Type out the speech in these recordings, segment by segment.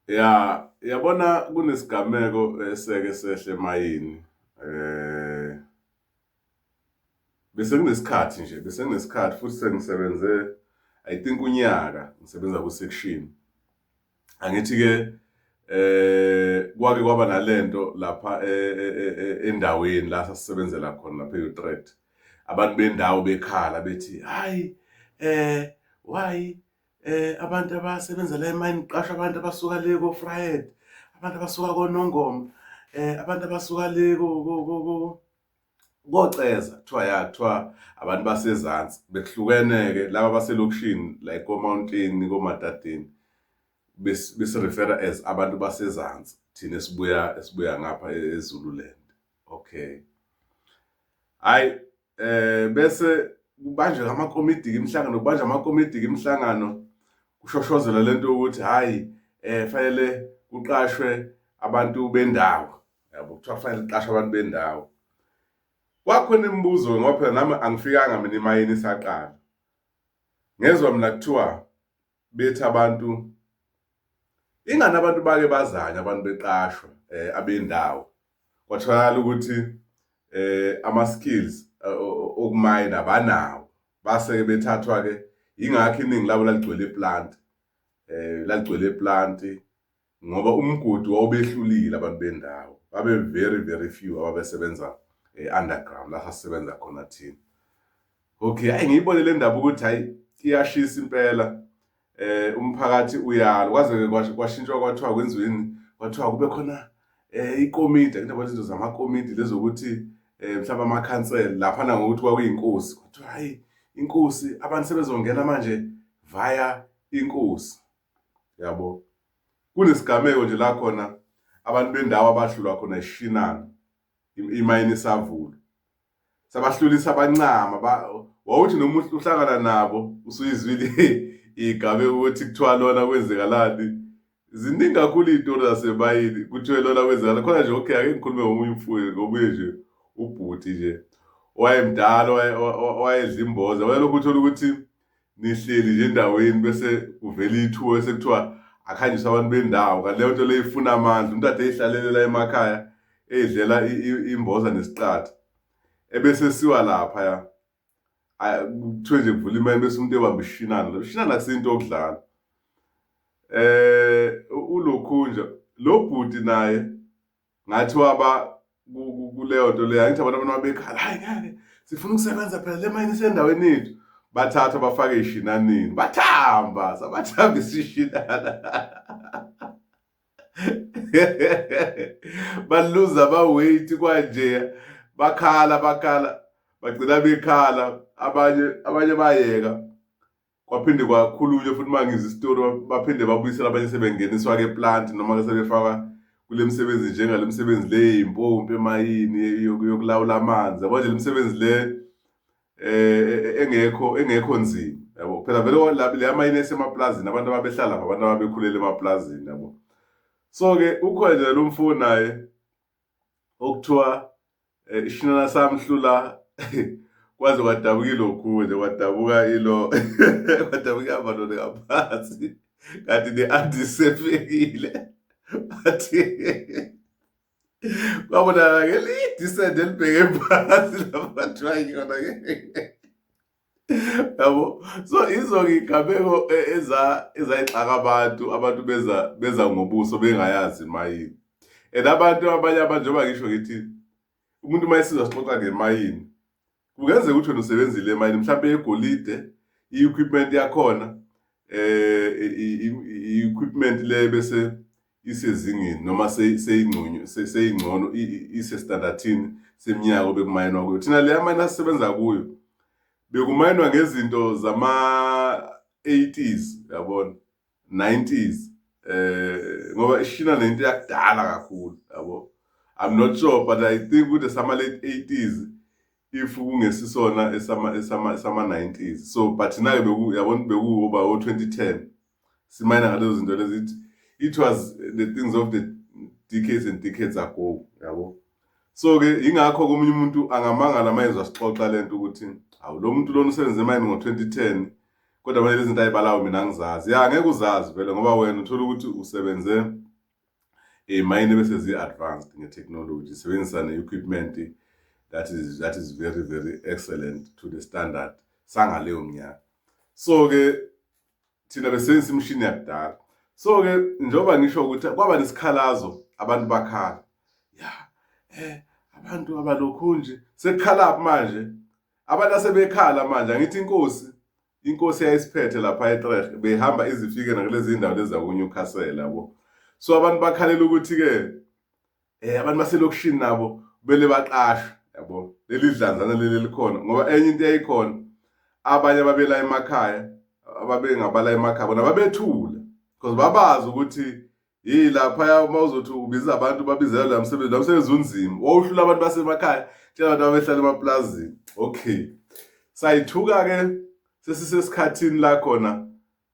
Ya, yabona kunesigameko eseke sehle emayini. Eh bese kunesikhathi nje, bese kunesikhathi futhi sengisebenze I think unyaka ngisebenza ku section. Angithi ke eh kwake kwaba nalento lapha e, e, e, endaweni la sasebenzela khona lapha eUtrecht. Abantu bendawo bekhala bethi, "Hayi eh why eh abantu abasebenza la emayini qasha abantu abasuka le ko Fried abantu abasuka konongoma eh abantu abasuka le ko koceza kuthiwa ya kuthiwa abantu basezansi bekuhlukene-ke laba baselokishini like komountini komadadini besirefera as abantu basezansi thina esibuya esibuya ngapha e-, ezululand okay hayi eh bese kubanjwe amakomidi imihlangano kubanjwa amakomidi imihlangano kushoshozela lento ukuthi hayi eh fanele kuqashwe abantu bendawo yabo kuthiwa fanele kuqashwe abantu bendawo kwakhona imibuzo ngoba phela nami angifikanga mina imayini isaqala ngezwa mina kuthiwa bethi abantu ingani abantu bake bazanye abantu beqashwa eh, abendawo kwatholakala ukuthi eh ama-skills eh, okumayina banawo base-ke bethathwa-ke yingakho iningi labo laligcwele iplanti eh laligcwele iplanti ngoba umgodi wawubehlulile abantu bendawo babe very very few ababesebenza eh, underground la sasisebenza khona thina okay hayi ngiyibone le ndaba ukuthi hayi iyashisa impela eh umphakathi uyalo kwaze kwashintshwa kwathiwa kwenziweni kwathiwa kube khona eh ikomidi kunabo izinto zamakomidi lezokuthi eh mhlawumbe amakhansela lapha na ngokuthi kwakuyinkosi kuthiwa hayi inkosi abantu sebezongena manje via inkosi yabo kunesigameko nje la khona abantu bendawo abahlulwa khona ishinana imayini isavula sabahlulisa abancama wawuthi noma uhlangana nabo usuyizwile igabe ukuthi kuthiwa lona kwenzekalani ziningi kakhulu iy'tori zasebayini kuthiwe lona kwenzekalani khona nje okay ake ngikhulume ngomunye umfuyi ngomunye nje ubhuti nje owayemdala owayedla imboza wayelokhu uthole ukuthi nihleli nje endaweni bese kuvela ithuba bese kuthiwa akhanjiswe abantu bendawo kanti leyo nto leyo ifuna amandla umuntu ade eyihlalelela emakhaya eyidlela imboza nesiqatha ebese siwa lapha ya kuthiwe nje kuvula imali bese umuntu ebamba ishinana lo shinana kusinto okudlala eh ulokhunja lo bhuti naye ngathi waba kuleyo nto leyo angithi abantu abantu babekhala hayi ngeke sifuna ukusebenza phela le mayini isendaweni yethu bathatha bafake ishinanini bathamba sabathamba isishinana baluza baweight kwanje bakhala bakhala bagcina bekhala abanye abanye bayeka kwaphinde kwakhulunywe futhi uma ngizwa isitori baphinde babuyisela abanye sebengeniswa-ke eplanti noma-ke sebefakwa kule misebenzi njengale misebenzi le yimpompi emayini yokulawula amanzi yabo nje le misebenzi le um engekho engekho nzima yabo phela vele le amayini esemaplazini abantu ababehlala abantu ababekhulele emaplazini yabo so-ke ukhona nje lo mfo naye okuthiwa eh, ishinana samhlula kwaze kwadabuka ilokhu nje kwadabuka ilo kwadabuka abalone ngaphansi kanti ne-antisefekile athi kwabonakala ngelidisende elibheke phansi labathiwa yona ke yabo so izo-ke iy'gameko e, ezayixaka abantu abantu beza beza ngobuso bengayazi imayini and abantu abanye abantu njengoba ngisho ngithi umuntu uma esizwa sixoxa ngemayini kungenzeka ukuthi wena usebenzile emayini mhlawumpe yegolide i-equipment yakhona eh i-equipment le bese isezingeni noma seyingcono seyingcono isestandathini seminyaka obekumayinwa kuyo thina leya mine asisebenza kuyo bekumayinwa ngezinto zama 80s yabona 90s eh ngoba ishina nento yakudala kakhulu yabo i'm not sure but i think ukuthi sama late 80s if kungesisona esama esama esama 90s so but nayo beku yabona bekuba o 2010 simayina ngalezo zinto lezi it, it was the things of the decades and decades ago yabo so-ke yingakho komunye umuntu angamangala mayezwa sixoxa le nto ukuthi awu lo muntu lona usebenze emayini ngo-twenty ten kodwa manje lezi nto ayibalawo mina angizazi ya ngeke uzazi vele ngoba wena uthole ukuthi usebenze emayini eh, bese zi-advanced nge-technology sebenzisa ne-equipment that is, that is very very excellent to the standard sangaleyo mnyaka so-ke thina besebenzisa imishini yakudala so ke njengoba ngisho ukuthi kwaba nesikhalazo abantu bakhala ya eh abantu abalokhu nje sekukhala manje abantu asebekhala manje angithi inkosi inkosi yayisiphethe lapha eTrecht behamba izifike nakulezi ndawo lezi zakuNewcastle yabo so abantu bakhalela ukuthi ke eh abantu baselokishini nabo kumele baqashwe yabo leli dlanzana leli likhona ngoba enye into eyayikhona abanye ababela emakhaya ababengabala emakhaya bona babethula because babazi ukuthi yini lapha uma uzothi ubiza abantu babizela la msebenzi la msebenzi unzima wawuhlula abantu basemakhaya tshela abantu abehlala emaplazini okay sayithuka ke sesisesikhathini la khona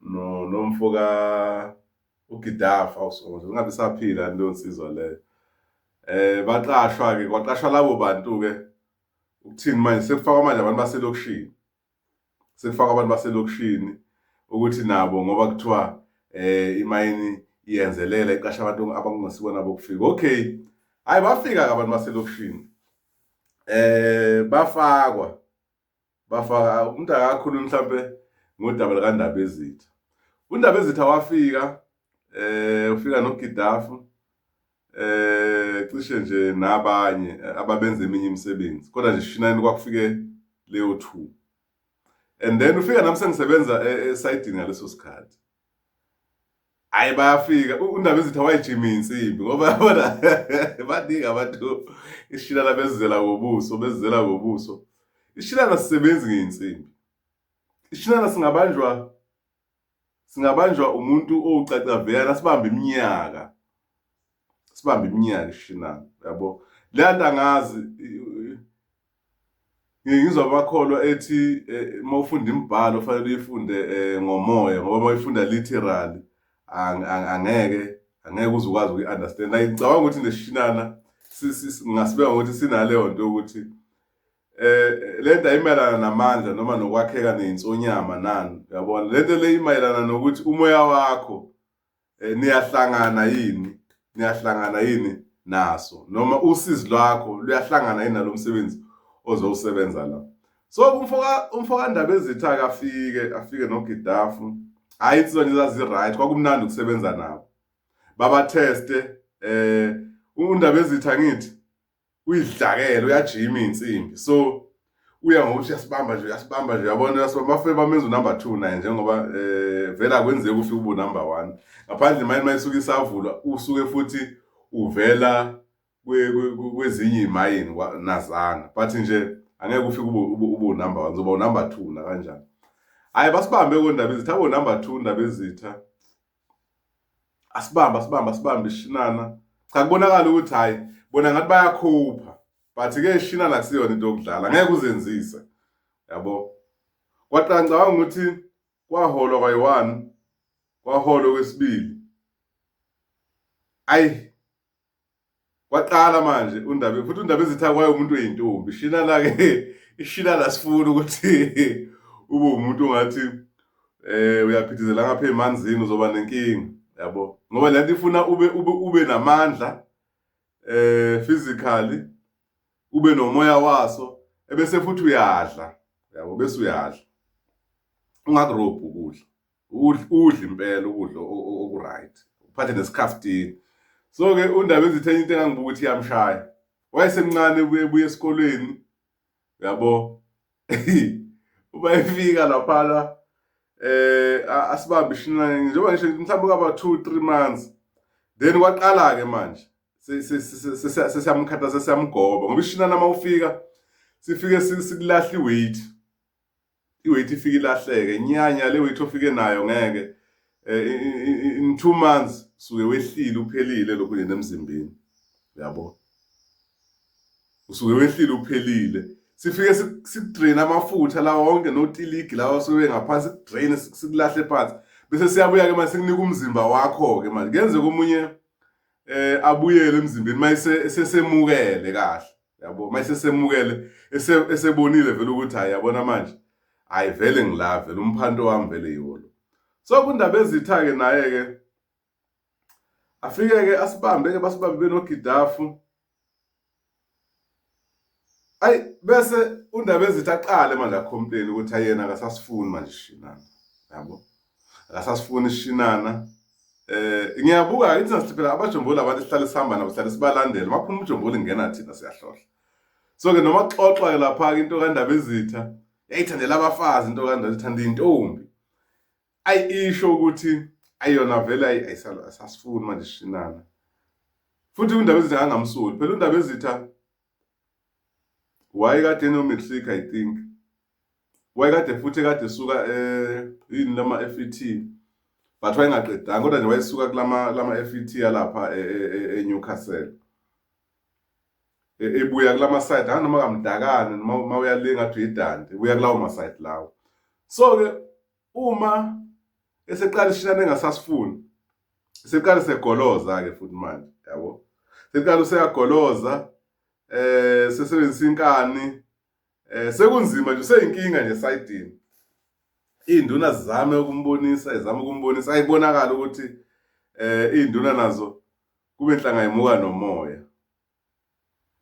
no nomfo ka uGidaf awusonto ngabe saphila into nsizwa le eh baqashwa ke kwaqashwa labo bantu ke ukuthini manje sekufaka manje abantu baselokushini sekufaka abantu baselokushini ukuthi nabo ngoba kuthiwa eh imayini iyenzelela iqasha abantu abangasibona bokufika okay hayi bafika ke abantu baselokushini eh bafakwa bafaka umuntu akakhulumi mhlampe ngodaba likandaba ezitha undaba ezitha wafika eh ufika noGidafu eh cishe nje nabanye ababenza eminye imisebenzi kodwa nje shinani kwakufike leyo two and then ufika nami sengisebenza esayidini e, ngaleso sikhathi hayi bayafika undaba ezitha wayijima insimbi ngoba yabona baningi abantu ishilana bezizela ngobuso bezizela ngobuso ishilana sisebenzi ngeyinsimbi ishilana singabanjwa singabanjwa umuntu owucacaveyana sibambe iminyaka sibambe iminyaka ishilana yabo le nto angazi ngizwa amakholwa ethi eh, uma ufunda imibhalo fanele uyifunde eh, ngomoya ngoba uma uyifunda literally angeke angeke uze ukwazi ukuyi-understand like ngicabanga ukuthi nesishinana ngingasibeka ngokuthi sinaleyo nto yokuthi eh le nto ayimayelana namandla noma nokwakheka ney'nsonyama nani uyabona le nto le imayelana nokuthi umoya wakho eh, niyahlangana yini niyahlangana yini naso noma usizi lwakho luyahlangana yini nalomsebenzi ozowusebenza la so umfoka umfoka ndaba ezitha akafike afike nogidafu hayi insizwa nje zazi right kwakumnandi ukusebenza nabo baba teste eh undaba ezitha ngithi uyidlakele uyajima insimbi so uya ngokuthi uyasibamba nje uyasibamba nje uyabona uyasibamba bafike bamenza unumber 2 naye njengoba eh vela kwenzeka ufike ubu number 1 ngaphandle imali mayisuka isavulwa usuke futhi uvela kwezinye imayini nazana but nje angeke ufike ubu ubu number 1 uzoba unumber 2 na kanjani hayi basibambe kondaba ezitha abo number 2 ndaba ezitha asibambe asibambe asibambe ishinana cha kubonakala ukuthi hhayi bona ngathi bayakhupha but ke ishinana kusiyona into yokudlala ngeke uzenzise yabo kwaqala ngicabanga ukuthi kwaholwa kwayi-one kwaholwa okwesibili ayi kwaqala manje undaba futhi undaba ezitha kwaye umuntu oyintombi shina la ke ishina la sifuna ukuthi ube umuntu ongathi eh uyaphithizela ngapha emanzini uzoba nenkinga yabo ngoba le nto ifuna ube ube ube namandla eh physically ube nomoya waso ebese futhi uyadla yabo bese uyadla ungakurobhi ukudla udle impela ukudla okuright uphathe nesikhaftini so ke undaba ezithenye into engangibuka ukuthi iyamshaya wayesemncane ubuye esikolweni yabo uma efika laphana eh asibambe ishinane njengoba ngisho mhlawumbe kaba 2 3 months then kwaqala ke manje sesiyamkhathaza sesiyamgoba ngoba ishinane uma ufika sifike sikulahla iweight iweight ifike ilahleke nyanya le weight ofike nayo ngeke eh, in two months suke wehlile uphelile lokhu nje nemzimbeni yabo usuke wehlile uphelile sifike sikudrain amafutha lawa wonke notiligi lawa sobe ngaphansi sikudrain sikulahle phansi bese siyabuya-ke manje sikunika umzimba wakho-ke manje kuyenzeka omunye eh abuyele emzimbeni mayisesemukele kahle yabo mase semukele esebonile vele ukuthi hayi yabona manje hayi vele ngila vele umphanto wami vele yiwona so kundaba ezitha-ke naye-ke afike-ke asibambe-ke basibambe benogidafu ayi bese undaba ezithi aqale manje akhompeni ukuthi ayena akasasifuni manje shinana yabo akasasifuni shinana eh ngiyabuka ithi nasithi phela abajomboli abantu sihlale sihamba nabo sihlale sibalandela uma phuma ujomboli ngena thina siyahlohla so ke noma xoxwa lapha into kandaba izitha yayithandela abafazi into kandaba ithanda intombi ayisho ukuthi ayona vele ayisalo asasifuni manje shinana futhi undaba ezitha angamsuli phela undaba ezitha wayekade enometric i think wayekade futhi ekade esuka eh, yini lama FET but wayengaqedanga kodwa nje wayesuka kulama lama FET yalapha eh, eh, eNewcastle ebuya kulama side ha noma kamdakane noma uyalinga athi idande ubuya kulawo ma side lawo so ke uma eseqala ishilana engasasifuni seqala segoloza ke futhi manje yabo seqala useyagoloza eh sesebenzisa inkani eh sekunzima nje useyinkinga nje sayidini induna zizame ukumbonisa izama ukumbonisa ayibonakala ukuthi eh induna nazo kube nhlanga imuka nomoya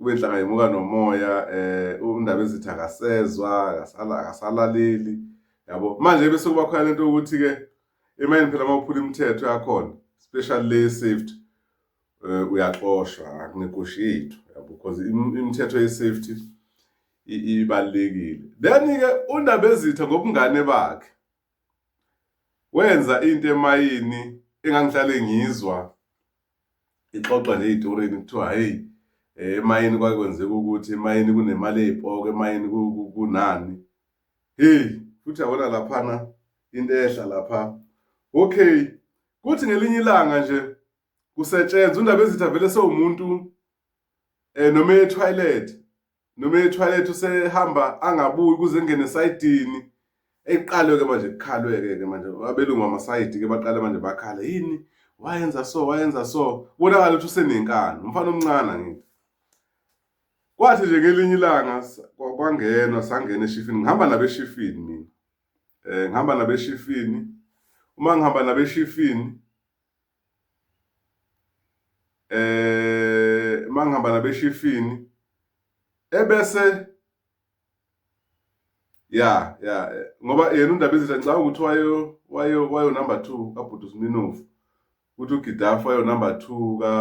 ubenhlanga yemuka nomoya eh undaba ezithi akasezwa akasala akasalaleli yabo manje bese kuba khona lento ukuthi ke emayini phela mawuphula imithetho yakhona special le safety eh, uyaxoshwa akunegoshi yethu yabo because imithetho ye safety ibalekile then ke undaba ezitha ngobungane bakhe Wenza into emayini engangihlale ngizwa ixoxwa nje ey'torini kuthiwa hheyi eh, emayini kwake kwenzeka ukuthi emayini kunemali ey'poko emayini kunani heyi futhi yabona laphana into ehla lapha okay kuthi ngelinye ilanga nje kusetshenzwa undaba ezithi avele sewumuntu um eh, noma ethwayilethi noma ethwalethi usehamba angabuyi ukuze engene esayidini eqalwe-ke manje kukhalwe-ke ke manje abelungu amasayidi-ke baqale manje bakhala yini wayenza so wayenza so kubonakala ukuthi usenenkani umfana omncane angithi kwathi nje ngelinye ilanga kwangenwa sangena eshifini ngihamba nabeshifini mina um ngihamba nabeshifini uma ngihamba nabeshifini eh mangihamba nabeshifini ebese ya ya ngoba yena undaba izinto ngicabanga ukuthi wayo wayo wayo number 2 kabhuti Sminofu ukuthi uGidafu wayo number 2 ka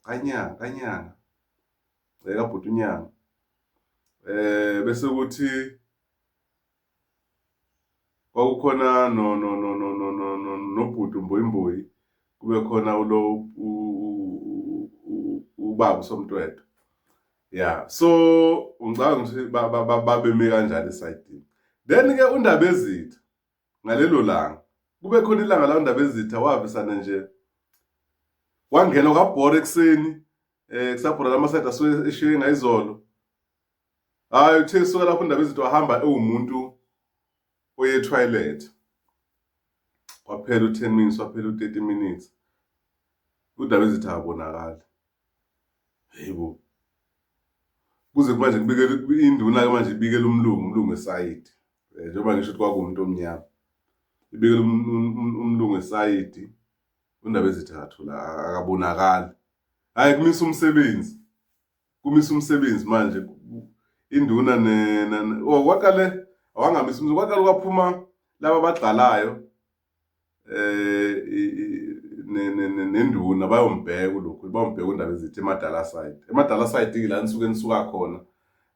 kanyanga kanyanga eh kabhuti unyanga eh bese ukuthi kwakukhona no no no no no no no nobhuti umbuyimbuyi kube khona ulo ubaba usomtwetwe ya so ngicabanga ukuthi babeme kanjani esayidini then ke undaba ezitha ngalelo langa kube khona ilanga la undaba ezitha wavisana nje wangena kwabhora ekuseni um kusabhora lamasayidi asuke eshiye ngayizolo hayi uthe suka lapho ndaba izinto wahamba ewumuntu oye toilet kwaphela u-10 minutes waphela u-30 minutes udaba ezithi akabonakali yebo kuze manje kubikele induna ke manje ibikele umlungu umlungu esayidi eh, njengoba ngisho ukuthi kwakuwumuntu omnyama ibikele um, um, um, umlungu esayidi undaba ezithi akathola akabonakali hayi kumisa umsebenzi kumisa umsebenzi manje induna ne oh kwaqale awangamisa umsebenzi kwaqale kwaphuma laba abagxalayo eh nenduna bayombheka lokhu bayombheka undaba ezithi emadala side emadala side ke la nisuke nisuka khona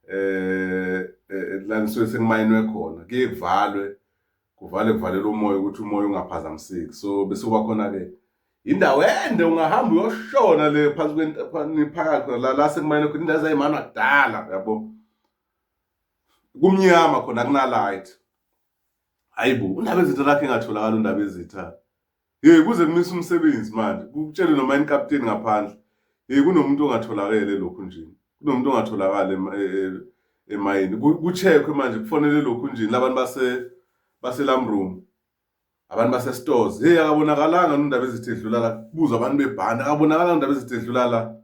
eh, eh la nisuke sengimayinwe khona kuye kuvalwe kuvale kuvalele umoya ukuthi umoya ungaphazamiseki so bese kuba khona-ke indawo ende ungahamba uyoshona le phansi kweniphakathi la la sekumayena khona indawo ezayimana kudala yabo kumnyama khona kunalight hayibo undaba ezitha lakhe engatholakala undaba ezitha Hey kuze kumisa umsebenzi manje. Kutshele noma yini captain ngaphandle. Hey kunomuntu ongatholakele lokhu nje. Kunomuntu ongatholakala emayini. Kucheckwe manje kufonele lokhu nje labantu base base lam room. Abantu base stores. Hey akabonakalanga nondaba ezithe dlula la. Kubuza abantu bebhanda akabonakalanga nondaba ezithe dlula la.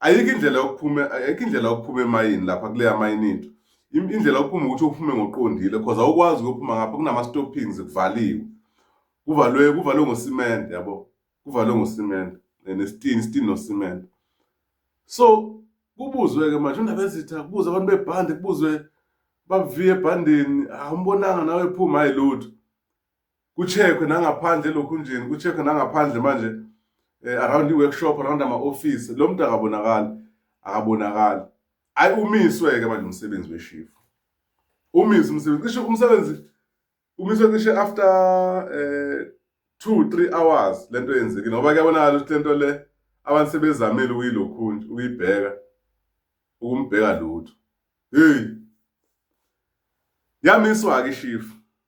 ayikho indlela yokuphuma ayikho indlela yokuphuma emayini lapha kuleya mayini into indlela yokuphuma ukuthi uphume ngoqondile because awukwazi ukuphuma ngapha kunama stoppings kuvaliwe kuvalwe kuvalwe ngosimende yabo kuvalwe ngosimende eh, nesitini isitini nosimende so kubuzwe ke manje undaba ezitha kubuza abantu bebhande kubuzwe baviye ebhandeni awumbonanga nawe phuma hayi lutho kucheckwe nangaphandle elokhunjeni kucheckwe nangaphandle manje um around i-workshop around ama-ofisi lo muntu akabonakali akabonakali ayi umiswe-ke manje umsebenzi weshifu umiswe umsebenzi cishe umsebenzi umiswe cishe after um two three hours le nto yenzekile ngoba kuyabonakala ukuthi le nto le abantu sebezamile ukuyilokhunje ukuyibheka ukumbheka lutho heyi yamiswa-ke ishifu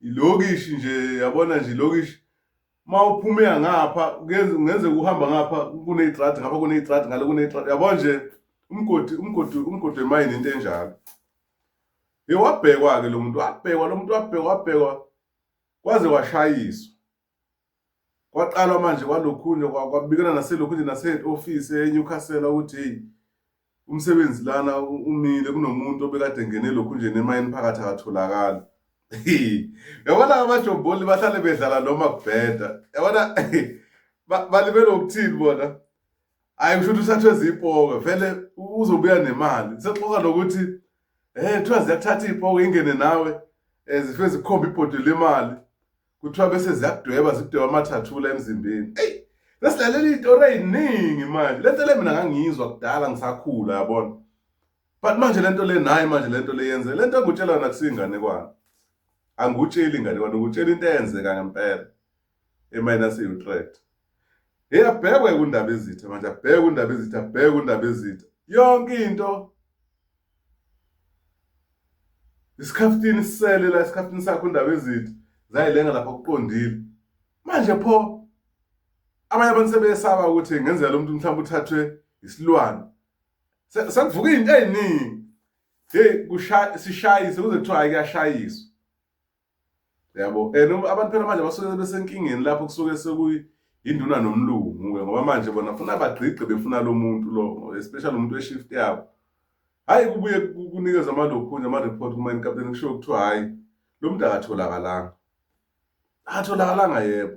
ilokishi nje yabona nje ilokishi uma uphumeka ngapha kungenzeka uhamba ngapha kuney'tradi ngapha kuney'tradi ngale kuney'tradi yabo nje umgodi umgodi umgodi wemayini into enjalo ye wabhekwa-ke lo muntu wabhekwa lo muntu wabhekwa wabhekwa kwaze washayiswa kwaqalwa manje kwalokhunye kwabikana naselokhunye nase-ofisi eNewcastle ukuthi hey umsebenzi lana umile kunomuntu obekade ngene lokhunjeni emayini phakathi akatholakali yabona abajomboli bahlale bedlala noma kubheda yabona balibele ukuthini bona hayi kusho ukuthi usathwe zipoke vele uzobuya nemali sexoka nokuthi um kuthiwa ziyakuthatha iy'poke ingene nawe um zifike zikhomba ibhodwe lemali kuthiwa bese ziyakudweba zikudweba amathathula emzimbeni eyi sesilalela iy'tori ey'ningi manje le nto le mina ngangiyizwa kudala ngisakhula yabona but manje le nto le nayi manje le nto le yenze le nto engutshela yona kusiyinganekwane angikutsheli inganekwane ukutshela into eyenzeka ngempela eminus e-utrecht heyi abhekwe kundaba ezitha manje abhekwe kundaba ezitha abhekwe kundaba ezitha yonke into isikhaftini sisele la isikhaftini sakho indaba ezithi zayilenga lapha kuqondile manje pho abanye abantu sebeyesaba ukuthi ngenzeka lo muntu mhlawumbe uthathwe isilwane sekuvuka izinto eziningi hey kushaya sishayise kuze kuthiwa ayikashayiswa yabo and abantu phela manje basuke besenkingeni lapho kusuke sekuyi induna nomlungu-ke ngoba manje bona funa bagqigqe befuna lo muntu lo especially umuntu we-shift yabo hhayi kubuye kunikeza amalokhunye ama-report kumayini kapteni kushiwo kuthiwa hhayi lo muntu akatholakalanga akatholakalanga yebo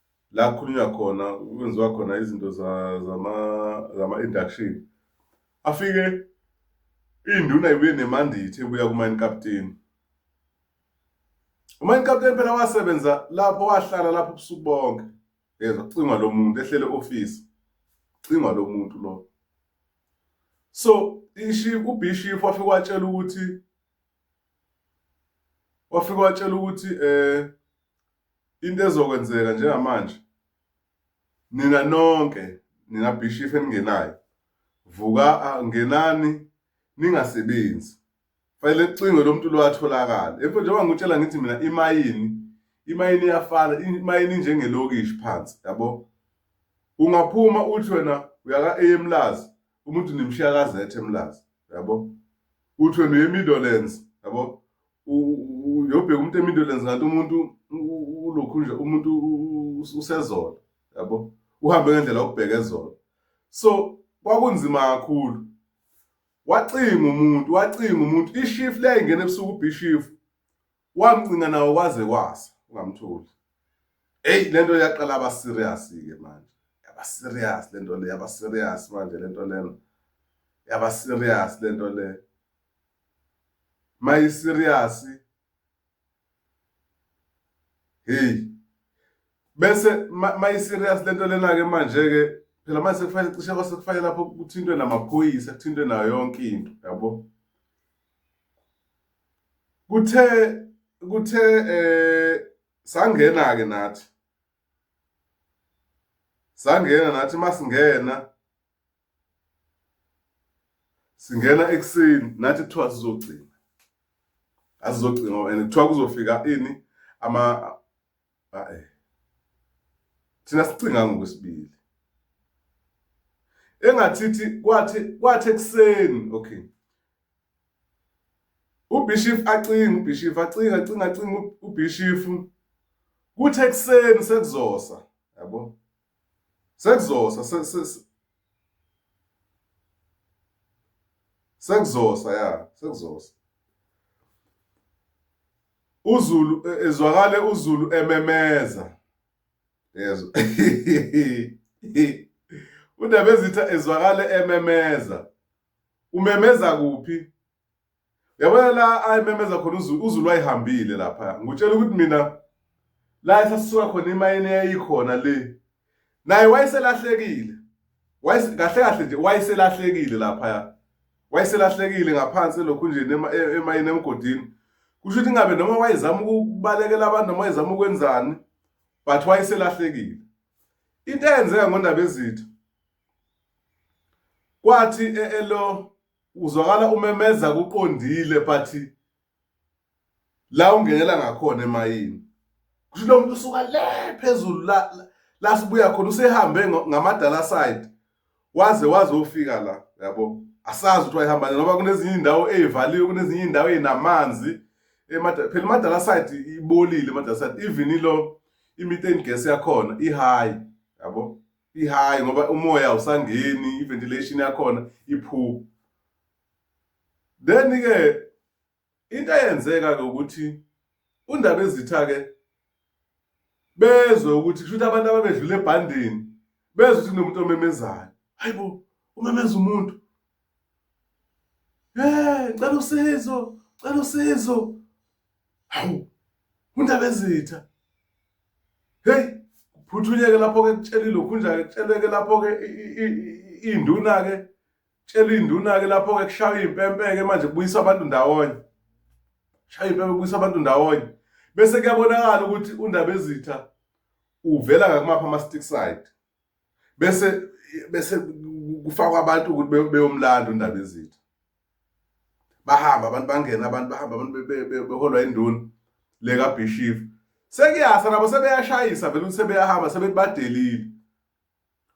la kukhulunywa khona kwenziwa khona izinto zama-induction afike iy'nduna ibuye nemandithi ebuya kumayini kapteni umayini kapteni phela wasebenza lapho wahlala lapho ubusuku bonke yezwa kucingwa lo muntu ehlele ofisi kucingwa lo muntu lo so ishifu ubhishifu wafike watshela ukuthi wafike watshela ukuthi um Into ezokwenzeka njengamanje nina nonke nina bishop eningenayo vuka ngenani ningasebenzi fanele kucingwe lo muntu lo atholakala emfo njengoba ngikutshela ngithi mina imayini imayini iyafana imayini njengelokishi phansi yabo ungaphuma uthi wena uyaka emlazi umuntu nimshiya kazethe emlazi yabo uthi wena uyemiddlelands yabo uyobheka umuntu emindolenzi ngathi umuntu ulokhu nje umuntu usezona yabo uhambe ngendlela okubheka ezona so kwakunzima kakhulu wacinga umuntu wacinga umuntu ishift leyayingena ebusuku ubishif wamcinga nawo kwaze kwasa ungamtholi eyi le nto yaqala aba serious-ke manje yaba serious le nto le yaba serious manje le nto lena yaba serious le nto le mayisiriyasi hey bese mayisiriyasi lento lena ke manje ke phela manje sekufanele cishe kwase kufanele lapho kuthintwe namaphoyisa kuthintwe nayo yonke into yabo kuthe kuthe eh sangena ke nathi sangena nathi masingena singena ekuseni nathi kuthiwa sizogcina azizogcina and kuthiwa kuzofika ini ama ae thina sicinga ngokwesibili engathithi kwathi kwathi ekuseni okay ubishif acinga ubishif acinga acinga acinga ubishif kuthi ekuseni sekuzosa yabo Sekuzosa se, se, se. Sekuzosa ya, sekuzosa. uZulu e, ezwakale uZulu ememeza yezwa uNdabezitha ezwakale ememeza umemeza kuphi yabona la ayimemeza khona uzulu wayihambile lapha ngutshela ukuthi mina la esasuka khona imayini eyayikhona le naye wayeselahlekile kahle kahle nje wayeselahlekile laphaya wayeselahlekile ngaphansi lokhu nje e-, emayini emgodini kusho ukuthi ingabe noma wayezama ukubalekela abantu noma wayezama ukwenzani but wayeselahlekile into eyenzeka ngondaba ezithu kwathi e-, elo uzwakala umemeza kuqondile but la ungenela ngakhona emayini kusho lo muntu usuka le phezulu la la sibuya khona usehambe ngamadala side waze waze ufika la yabo asazi ukuthi wayihamba ngoba kunezinye indawo ezivaliwe kunezinye indawo ezinamanzi emadala phela imadala side ibolile imadala side even ilo i-methane gas yakhona i-high yabo i-high ngoba umoya awusangeni i-ventilation yakhona i-poor then-ke into eyenzeka-ke ukuthi undaba ezitha-ke bezwe ukuthi kusho ukuthi abantu ababedlula ebhandeni bezwe ukuthi kunomuntu omemezayo hayi bo umemeza umuntu um cela usizo cela usizo Hawu, uNdabezitha. Hey, phuthunyeke lapho ke kutshelile lokhu nje kutsheleke lapho ke induna ke tshela induna ke lapho ke kushaya impempe ke manje kubuyisa abantu ndawonye. Shaya impempe kubuyisa abantu ndawonye. Bese kuyabonakala ukuthi uNdabezitha uvela ngakumapha ama stick side. bese bese kufakwa abantu ukuthi beyomlanda undaba ezitha bahamba abantu bangena abantu bahamba abantu beholwa induna le kabishif sekuyasa nabo sebeyashayisa vele ukuthi sebeyahamba sebebadelile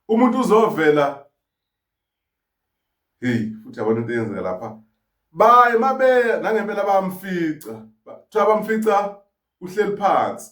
umuntu uzovela hey futhi yabona into eyenzeka lapha baye mabeya nangempela bamfica kuthiwa bamfica uhleli phansi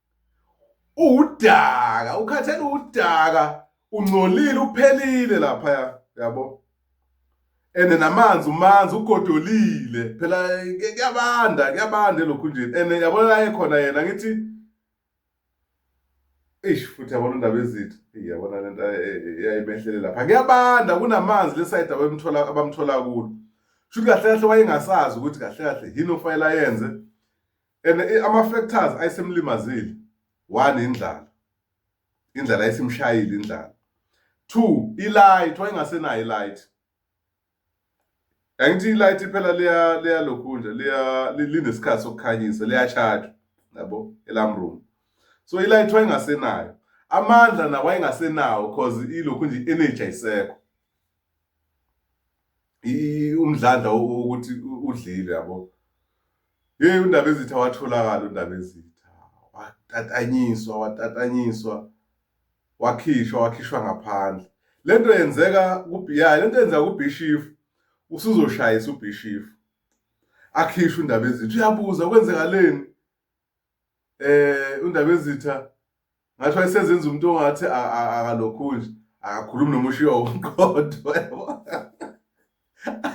uwudaka ukhathele uwudaka ungcolile uphelile laphaya yabo ene namanzi umanzi ugodolile phela kuyabanda kuyabanda elokhunjeni ene yabona la ekhona yena ngithi eish futhi yabona indaba ezithu yabona lento yayimehlele lapha kuyabanda kunamanzi lesayida abamthola abamthola kulo shuthi kahle kahle wayengasazi ukuthi kahle kahle yini ofanele ayenze and eh, ama factors ayisemlimazile one indlala indlala ayisimshayile indlala two ilight wayengasenayo ilight angithi ilight iphela leya leya lokhunja leya linesikhathi sokukhanyisa leya charge yabo elam room so ilight wayengasenayo amandla nawo wayengasenawo cause ilokhu nje energy ayisekho umdlandla ukuthi udlile yabo yeyi undaba ezitha watholakala undaba ezitha watatanyiswa watatanyiswa wakhishwa wakhishwa ngaphandle le nto yenzeka ya le nto yenzeka kubhishifu usuzoshayisa ubhishifu akhishwe undaba ezitha uyabuza kwenzekaleni eh undabezitha ngathi wayesezenza umuntu ongathi akalokhu nje akakhulumi noma ushiya umqodo yabo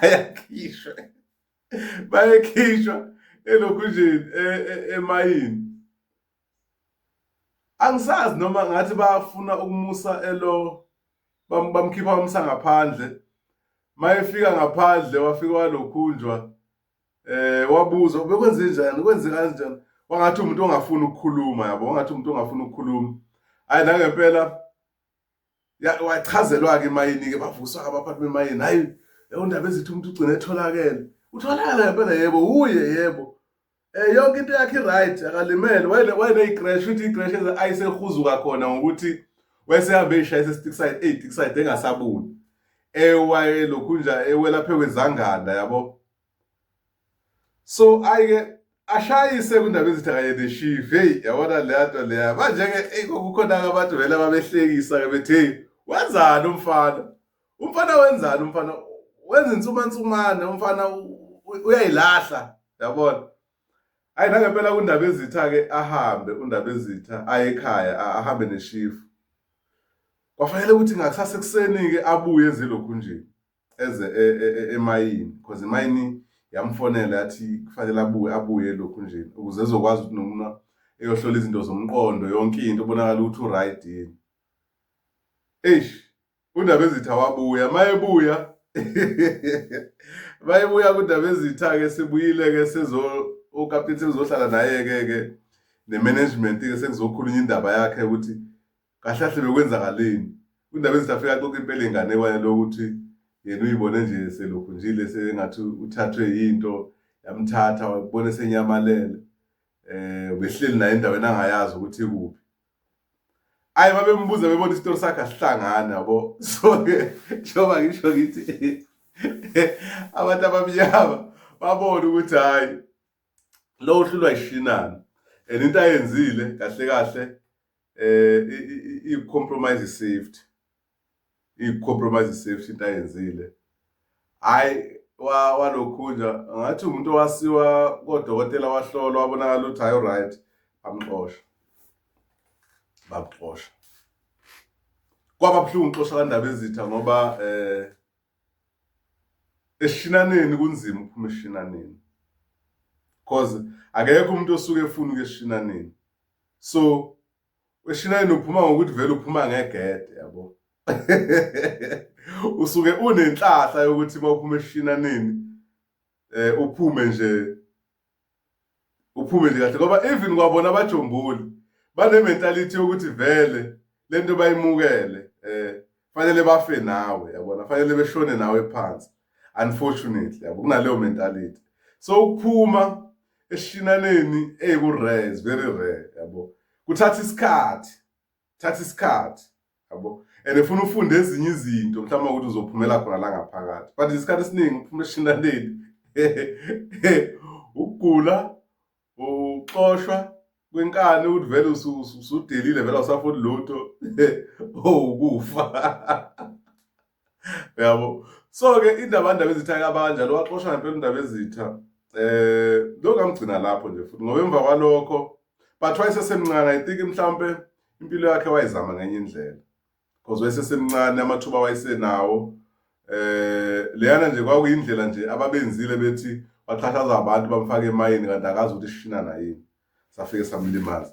ayakhishwe bayekhishwa elokhu nje e, e, emayini angisazi noma ngathi bafuna ukumusa elo bamkhipha bamsa ngaphandle mayefika ngaphandle wafika walokhunjwa eh wabuza bekwenze njani kwenze kanjani wangathi umuntu ongafuni ukukhuluma yabo wangathi umuntu ongafuni ukukhuluma hayi la ngempela wachazelwa ke mayini ke bavuswa abaphathi bemayini hayi leyo ndaba ezithi umuntu ugcine etholakele utholakala ngempela yebo uye yebo eh yonke into yakhe right akalimele wayene wayene icrash uthi icrash ayisehuzuka khona ngokuthi wayesehambe ishayise stick side 8 stick side engasabuni ewaye lokhunja ewelaphe kwezanganda yabo so ayike ashayise kundaba ezithi kanye neshifu heyi yabona leya nto leya manje-ke eyi kwakukhona-ke abantu vele ababehlekisa-ke bethi heyi wenzani umfana umfana wenzani umfana wenza insumansumane umfana uyayilahla yabona Ayi nangempela undaba ezitha ke ahambe undaba ezitha aye ekhaya ahambe neshifu. Kwafanele ukuthi ngakusasa ekuseni ke abuye ezilokhu nje eze e, e, e, emayini because imayini yamfonela yathi kufanele abuye abuye lokhu nje ukuze ezokwazi ukuthi noma eyohlola izinto zomqondo yonke into ubonakala ukuthi uright yini. Eish UNdabezitha wabuya mayebuya mayebuya kuNdabezitha-ke sebuyile-ke sezo ukapteni sekuzohlala naye-ke ke ne-management-ke sekuzokhulunywa indaba yakhe ukuthi kahle kahle bekwenzakaleni uNdabezitha afika axoxa impela inganekwane lokuthi yena uyibone nje selokhu njile sengathi uthathwe yinto yamthatha wabona esenyamalele um behleli naye endaweni angayazi ukuthi ikuphi ayi babembuza bebona isitori sakhe asihlangani yabo so ke njengoba ngisho ngithi abantu abamnyama babona ukuthi hhayi lo uhlulwa yishinana and into ayenzile kahle kahle um i-compromise i-safety i-compromise safety into ayenzile hhayi walokhunja ngathi umuntu owasiwa kodokotela wahlolwa wabonakala ukuthi hhayi uright bamxosha bamxosha kwaba buhlungu uxosha kandaba ezitha ngoba eh eshinaneni kunzima ukuphuma eshinaneni cause akekho umuntu osuke efuna ukuyeshinaneni so Weshinayini uphuma ngokuthi vele uphuma ngegede yabo. Usuke unenhlahla yokuthi mawuphuma eshinanini eh uphume nje uphume nje kahle ngoba even kwabona abajombuli bane mentality yokuthi vele lento bayimukele eh fanele bafe nawe yabona fanele beshone nawe phansi unfortunately yabo kunaleyo mentality so ukuphuma eshinaneni eku rare is very rare yabo kuthatha isikhathi thatha isikhathi yabo and ufuna ufunde ezinye izinto mhlawumbe ukuthi uzophumela khona la ngaphakathi but isikhathi esiningi uphuma eshinaneni ukugula Ukuxoshwa kwenkani ukuthi vele usudelile vele awusafuni lutho owukufa yabo so-ke indaba ndaba ezitha kabanjalo waxoshwa ngempela indaba ezitha um eh, lokungamgcina lapho nje futhi ngoba emva kwalokho but wayesesemncane i think mhlawumpe impilo yakhe wayizama ngenye indlela because wayesesemncane amathuba wayesenawo eh leyana nje kwakuyindlela nje ababenzile bethi baqhathaza abantu bamfake emayini kanti akazi ukuthi ishinana yini safike samlimaza